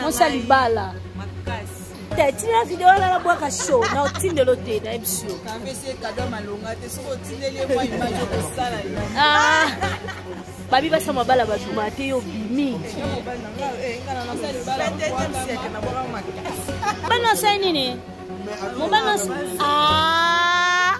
mosali bala tina video wana nabwaka show na otindelo te na ebisio ah. babi basa mabala batuma te yo bimi bana osali nini mobali osi ah.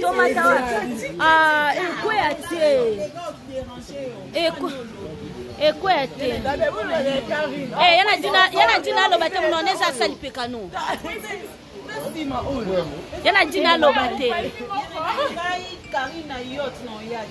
tomata ah, ekweya te ekweya te eh, yana dina aloba te monone eza asali pekano yana dina aloba te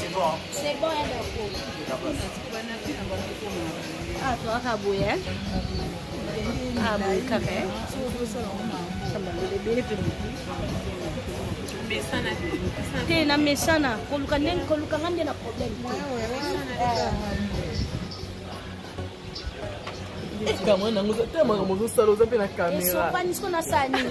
C'est bon. C'est bon, hein, d'accord. Ah, toi, Kabouye. Hein? Ah, bon, café. te na mesana koluka ndenge koluka nga nde na problème te kamwe nango te makambo ozosala oza mpe na kamera esopani siko nasala nini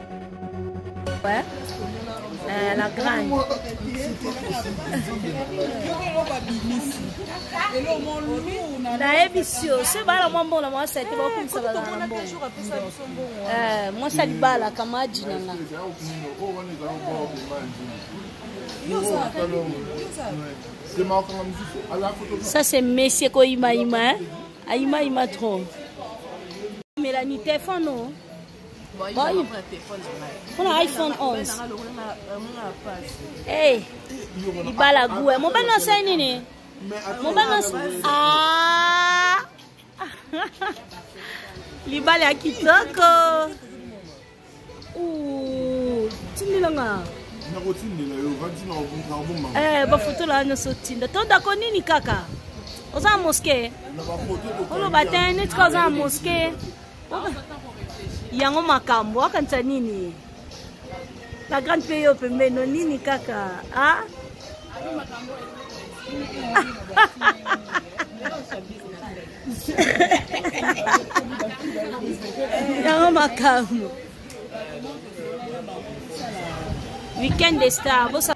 Ouais. Euh, la grande. nayebisi yo soki bala mwa mbongo na mwa sete bakumisa bala na mbongo euh, mwasi alibala kamaji na nga ça c'est messie koyimayima hein? ayimayima trop melani tefano mpona iphone 11 eh, libala gue mobali nasali nini mobali ah! libala ya kitoko tindilanga nakotindela yo ovandi nakobomba eh, bafotola nyonso otinda tondako nini kaka oza na moske oloba te neti ka oza na moske yango makambo akanisa nini la grande mpe yo pembeni no nini kaka a ah? yango makambo weekend de star bosa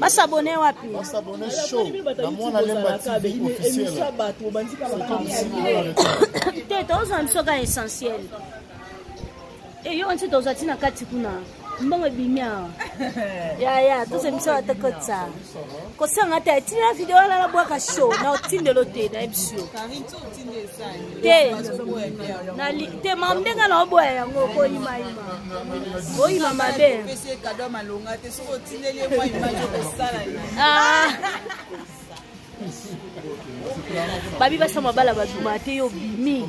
basabone wapi basabone show na mwana lemba tv officiel te tozwa biso ka essentiel eyo eh, nsi tozwa ti na kati kuna mbongo ebimi awa yaya tozwa biso batakotisa kosanga te atina video alala bwaka show na otindelo te na ebisio te nali te ma ndenge na oboya yango okoyimayima oyima mabe ah. babi basa mabala babima te yo bimi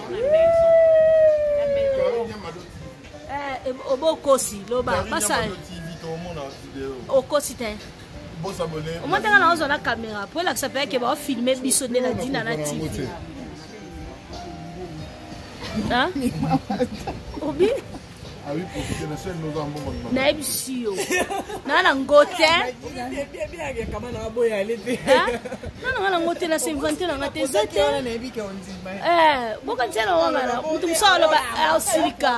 Eh, obo okosi loba basala okosi te omotaka na ozwa na kamera mpo elakisa mpe yake baofilme biso nde na dina na tv obi nayebisi yo naa na ngo te nana nga na ngo te na sinvante na nga te eza te bokanisa na wangana moto mosusu aloba asilika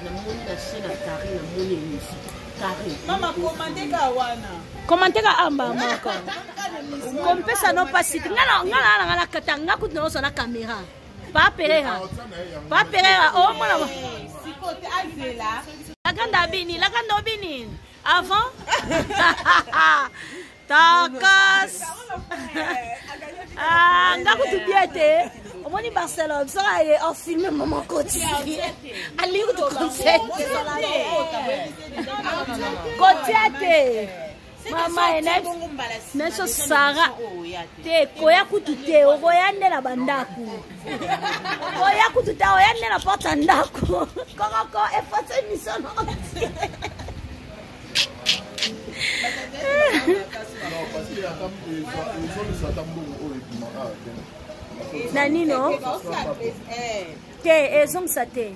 namoni na chaine ya kari namoni emission kari mama komande ka wana komante ka amba moko kompesa no mpasi te ngai na ngai na ngai na katanga kutu na oso na kamera pa pereira pa pereira omona oh, lakanda abini lakanda obini avant takas ah, nga kutu bie te omoni barcelone biso aye ofilme mama koti alingi kutu concert kotia te mama nayebiso sara te koya kutu te okoya nde na bandako koya kutu te oya nde na porte ya ndako kokoko efase misono na nino te ezongisa te